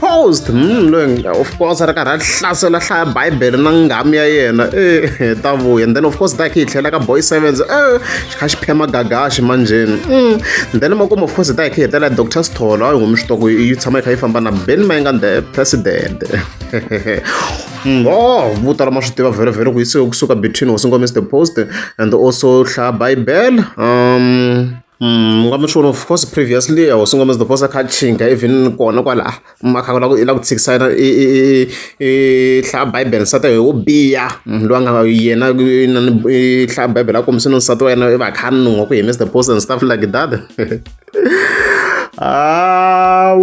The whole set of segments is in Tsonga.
post munhu loyi of course a ri karhi a hlasela hlaya bibele na nghamu ya yena e ta vuya and then of course daki hi tlhela ka boy sevens e xi kha xi phema gagaxi manjheni mm. then makumu of course hi ta hi kha hi hetela dr sitholo a yi humi switoko yi tshama yi kha yi famba na ben mayenga the president oh vo tala ma swi tiva vhele vhele ku yisiwe kusuka between hosi ngomese the post and also hlaya bibele um Mm, I'm not sure of course previously I was single the posa kha chinga even kona kwala ah, makha la la ku tsikisana i i hla bible sata yo biya mm, lo nga yena i hla bible a kombisa no sata wena va khanungo ku hemisa the post and stuff like that however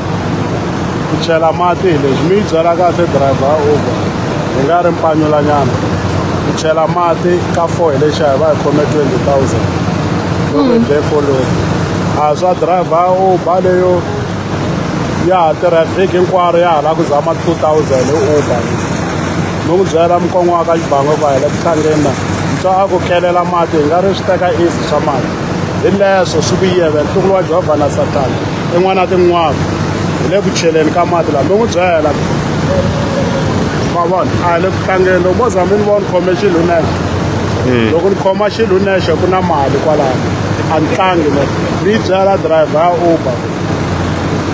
ku chela mati hi leswi mi yi byela kahle driver uber hi nga ri mpanyulanyana ku chela mati ka four hi lexa hi va hi khome twenty thousand loko hi foleni a swa driver uber leyo ya ha tirha vhiki hinkwaro ya ha lava ku zama two thousand hi uber no ku byela mukongo wa ka xibango ku a hi le ku tlangeni na ntswa a ku kelela mati hi nga ri swi teka easy swa mati hi leswo swi vuyela ntukulu wa jehovha na satana tin'wana na tin'wana hi le ku cheleni ka mati laha mi n'wi byela ma vona a hi le ku tlangeni loko mo za mi ni vona khome xilo nexe hmm. loko ni khoma xilo nexe ku na mali kwalano a ni tlangi le ni yi byela driver ya uber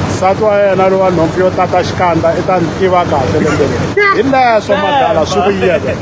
nsati wa yena lowa nhompfu yo tata xikandza i ta ni tiva kahle lembeleni hi leswo madala swi vuyela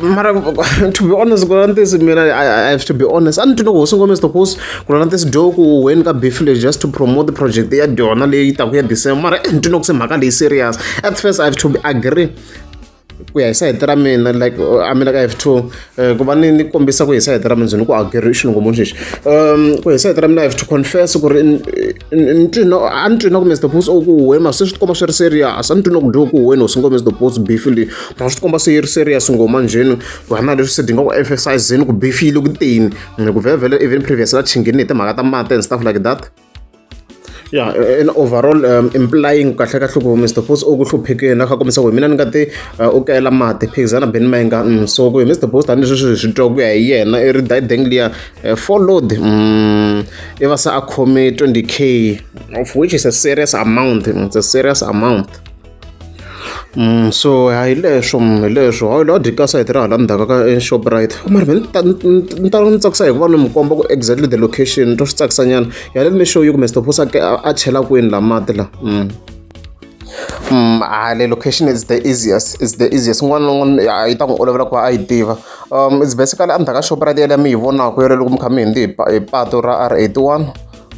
mara to be honest ku lava na tisi mina I, I have to be honest a ni twi loko hosi ngome sito hosi ku lava na tisi do ku weni ka beef leyi just to promote the project ya dyona leyi taku ya december mara eh, ni twi loko se mhaka leyi serious at first i have to be agree ku ya hi sayiti ra mina like uh, a mina ka f two uh, ku va ni ni kombisa ku hi sayiti ra mina byi ni ku ageri xilungu munhu lexi um ku hi sayiti ra mina f two confess ku ri ni twi no a ni twi na ku mr bos o ku huwe ma se swi tikomba swi ri serious a ni twi na ku dyiwa ku huweni hosi ngo mr bos bifile ma swi tikomba se yi ri serious ngo manjheni ku hana leswi se dinga ku emphasizeni ku bifile ku tini ku vhele vhele even previous la chingini hi timhaka ta mati and stuff like that ya in overall um implying kahle kahle ku mr boss u ku hluphekile a kha kombisa ku hi mina ni nga te uh, u kayela mati phikizana beni ma inga mm, so ku hi mr boss tanihi sweswi hi swi twa ku ya hi yena i ri dideng liya uh, followed mm, i va se a khome 20 k of which is a serious amount it's a serious amount so a hi leswo hi leswo a lo dyi ka sayiti ra hala ndzhaku ka shoprite mara me ni ta ni ta ni tsakisa hi ku va ni mi komba ku exactly the location to swi tsakisa nyana ya let me show you kumbe sitophosa ke a chela kwini la mati la Mm, ah, le location is the easiest is the easiest n'wana na n'wana ah, yi ta n'wi olovela ku va a yi tiva um it's basically endzhaku ka shoprite yaleyo mi yi vonaka yoleloko mi kha mi hindi hi pa- hi pato ra r eighty one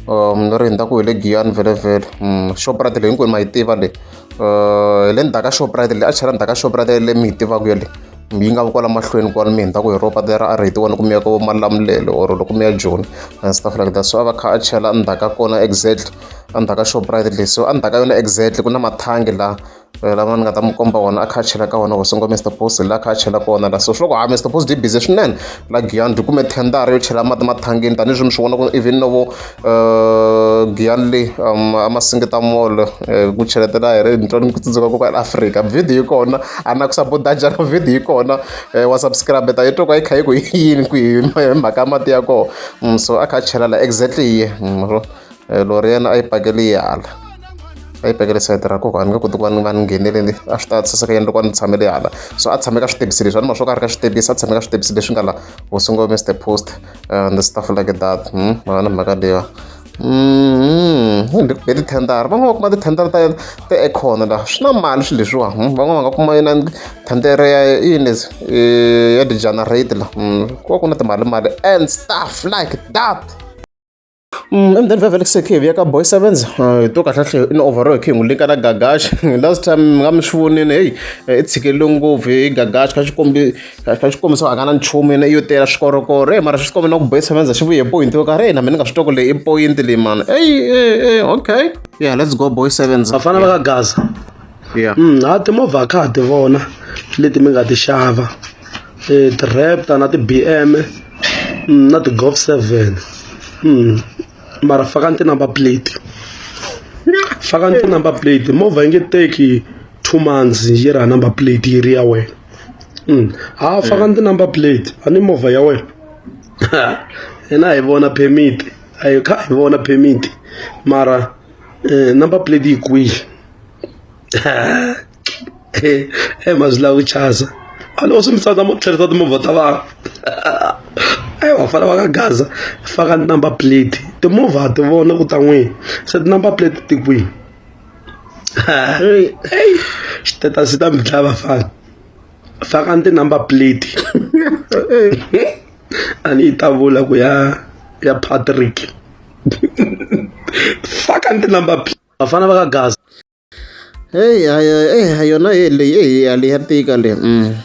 um ri hundza ku hi le giyani vhelevhele um mm, shoprite leyi hinkwenu ma yi tiva leyi um hi le ndzhaku ka shoprite leyi a chela ndzhaku ka shoprite yale mi yi tivaka yale yi nga vi kwala mahlweni kwala mi hundza ku hi ropa lera a ri hi ti wona ku miyaka vo malamulele or loko mi ya joni and stuff like that so a va kha a chela ndzhaku ka kona exactly a ndzhaku ka shoprite leyi so a ndzhaku ka yona exactly ku na mathangi laha lama ni nga ta mi komba wona a kha a chela ka wona wasongo Mister Boss la kha a chela ka wona la so swi loko ha Mister Boss di busy swinene la Giyani byi kume thendara yo chela mati mathangini tanihileswi mi swi vona ku even novo eh, Giyani leyi um, a masingita molo eh, ku cheletela hi ri nitwa ni ku tsundzuka ku ka Africa video yi kona a na ku sabotaja ka video yi kona eh, wa subscribe ta yi to ka yi kha yi ku yini ku hi mhaka mati ya kona mm, so a kha a chela la exactly yi mm, eh, lori yena a yi pakele yi hala a yi pakele sayiti ra koko a ni nge koti ku va ni va ni ngheneleli a swi ta tsasa ka yini loko a ni tshamele yi hala so a tshame ka switebisi leswi a ni ma swo ka a ri ka switebisi a tshame ka switebisi leswi nga la hosingo mr post eh, and stuff like that hmm, mhaka ni mhaka leyiwa hi hi tithendara van'wana va kuma tithendara ta ta ekhona laha swi na mali swilo leswiwa hmm, van'wana va nga kuma yona thendere ya yini ya degenerate la ku va ku na timali mali and stuff like that emudeni vhevhe le kusekhe hi vuya ka boy sevens hi to kahlahle i ni overall khe hi n'wi linka na gagash last time mi nga mi swi vonini heyi eh, i tshikelele ngopfu hi gagash ka xikombi ka xikombiso a nga na nchumu yena iyo tela swikorokoro e mara swi tikombe na ku boy sevens a xi vuye hi point yo karhi na mina ni nga swi toko leyi i point leyi mani eyi e okay yeah let's go boy sevens vafana va ka gaza yeah. mm, ha timovha a kha ha ti vona leti mi nga ti xava ti-raptor na ti-B_M na ti-golf seven mara faka ni ti-number plate faka ni ti-number plate movha yi nge teki two months yi ri ha number plate yi ri ya wena ha faka ni ti-number plate a ni movha ya wena hina hi vona permit a hi kha hi vona permit mara number plate yi kwihi. e mazwi lawa ku chasa a loko swi mi tsandza mo tlherisa timovha ta vanhu e vafana va ka gaza faka number plate timovha ti vona ku ta n'wini se ti-number plate ti kwini xitetasi ta mi dlaya vafana faka ni ti-number plate a ni yi ta vula ku ya ya patrick faka ni ti-number plate vafana va ka gaza Hey, hayo, eh, hayo na ye leyi eh, hali ya tika le mm.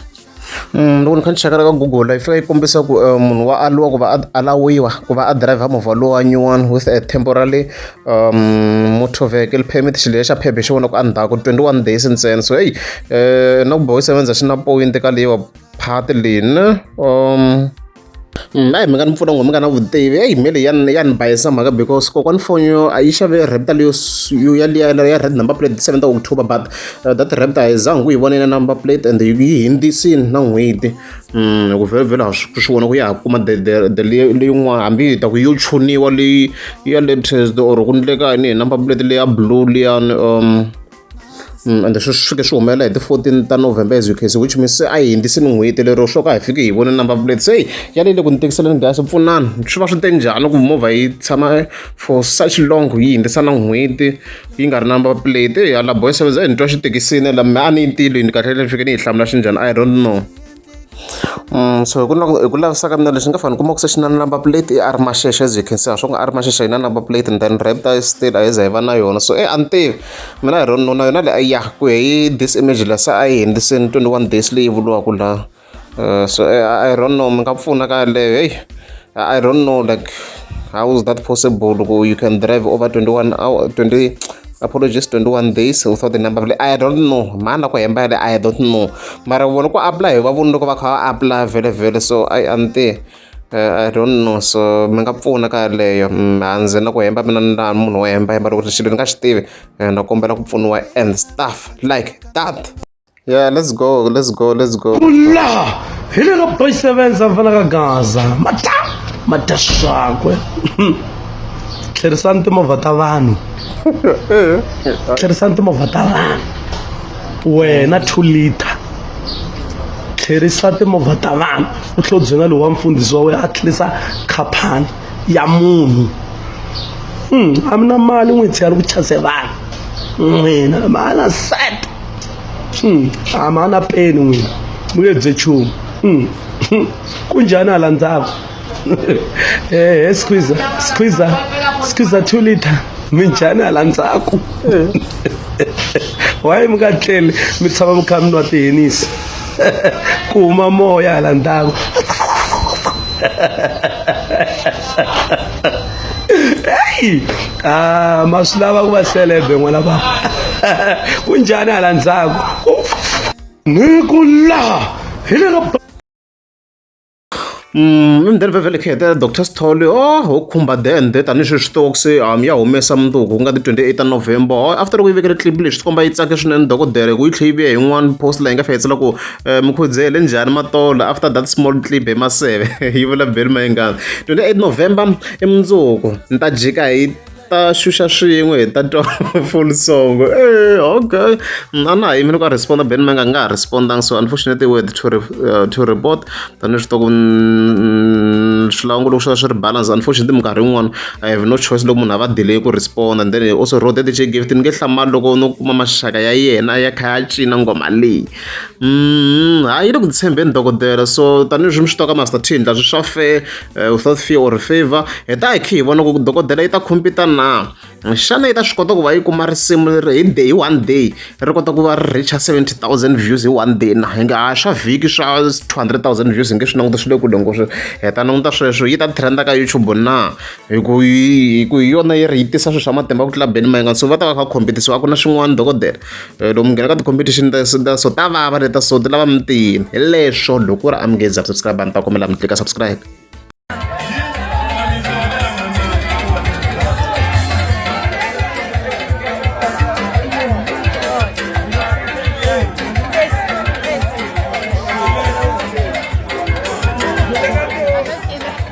Mm, loko ni kha ni cheka ka google yi fika yi kombisa ku eh, munhu wa aliwa ku va a alawiwa ku va a driver movha lowa nyuwani with a temporary um, motor vehicle permit xilo xa phephe xi vona ku endzhaku 21 days ntsena so heyi um na ku bohi sevenza xi na point ka leyiwa phati leyi ne um na hi mhaka ni pfuna munghana mi nga na vutivi eyi me leyi ya ni ya ni bayisa mhaka because kokwani phone yo a yi xave raptor leyo yo yaliya ya red number plate seven ta october but uh, that raptor a yi zangi ku yi vonela number plate and yi hindzisini na n'hweti um ku vhelovhelo ha swi swi vona ku ya ha kuma the leyin'wana hambi yi ta ku yo chuniwa leyi ya latest or ku ndleka ni hi number plate leya blue liyani um Mm, ende sweswi fike swi humelela hi ti-14 ta november as ukc which means se a hi hundzisi ni n'hweti lero swo ka hi fike hi vone number plate se hi ya leyile ku ni tekiseleni gas pfunani swi va swi te njhani ku movha yi tshama for such long yi hundzisa na n'hweti yi nga ri number plate eya la boy seveza hi ni twa xithekisini la me a ni yi ntilweni kahle le ni fike ni yi hlamula xi njhani i don't know so hi ku lava hi ku lavisisa ka mina lexi nga fanele u kuma ku se xi na number plate i R masheshe as you can see a swi nga R masheshe yi na number plate and then red eye still a yi za yi va na yona so e a ni tivi mina hi rona na yona leyi a ya ku ya hi this image la se a yi hundziseni twenty one days leyi vuriwaka la eh, so e a i don't know mi nga pfuna ka yaleyo heyi i don't know like how is that possible ku you can drive over twenty one hour twenty apologies 21 days u thought the number vele i don't know mhani la ku hemba yale i don't know mara vona ku apply hi va vona loko va kha va apply vele vele so i ante uh, i don't know so mi nga pfuna ka yaleyo mm, a ndzi na ku hemba mina ni laha munhu wo hemba hemba loko xilo ni nga xi tivi eh, na kombela ku pfuniwa and stuff like that Yeah, let's go, let's go, let's go. Kula! Hi le ka boy sevens a fanaka Gaza. Mata! Mata swakwe. Tlherisani timovha ta vanhu. Tlherisani timovha ta vanhu. Wena 2 liter. Tlherisa timovha ta vanhu. U tlhodzena lowu wa mfundhisi wa wena a tlherisa khaphani ya munhu. Hmm, a mi na mali n'witsi ya ri ku chase vanhu. N'wina, mala set. hmm, a ma na peni n'wina mu nge bye chumu hmm, hmm, ku njhani hala ndzhaku ehe squeeza squeeza squeeza two liter mi njhani hala ndzhaku wayi mi nga tleli mi tshama mi kha mi nwa tihenisi ku huma moya hala ndzhaku heyi ah, ma swi lava ku va selebe n'wana va ku njhani hala ndzhaku ni ku laha hi le ka Mm, and then vevele khe the dr sithole oh ho khumba then de tanihi sweswi toks um ya humesa mundzuku ku nga ti 28 ta november oh, after loko yi vekele clip lexi swi komba yi tsake swinene dokodela hi ku yi tlhe yi vuya hi yin'wana post laha yi nga fihetsela ku Eh, mukhudzele le njhani matolo after that small clip hi maseve yi vula beli mayingana 28 november i mundzuku ni ta jika hi ta xuxa swin'we hi ta twa full song eh okay a na ha yimile ku a responda ben manga nga ha respondanga so unfortunately word to, re, uh, to report tanihi swi toko swilangu loko swi va swi ri balance unfortunately minkarhi yin'wana i have no choice loko munhu a va delay ku responda and then also road that she gave it ni nge hlamali loko no kuma maxaka ya yena ya kha ya cina ngoma leyi Ha yini ku tshembeni dokodela so tanihileswi mi swi tivaka ma startin la swi swa fe without fear or favor hi ta hi kha hi vona ku dokodela yi ta khompita na xana yi ta swi kota ku va yi kuma risimu leri hi day hi one day ri kota ku va ri reach-a seventy thousand views hi one day na hi nga ha swa vhiki swa two hundred thousand views hi nge swi languta swi le kule ngopfu hi ta languta sweswo yi ta trend-a ka YouTube na hi ku hi ku hi yona yi ri yi tisa swilo swa matimba ku tlula Benny Mayengani so va ta va kha va khompitisiwa a ku na swin'wana dokodela. loko mi nghena ka ti-competition ta so ta so ta vava leta so ti lava mi tiyini hi leswo loko ku ri a mi nge za subscribe a ni ta kombela mi tlika subscribe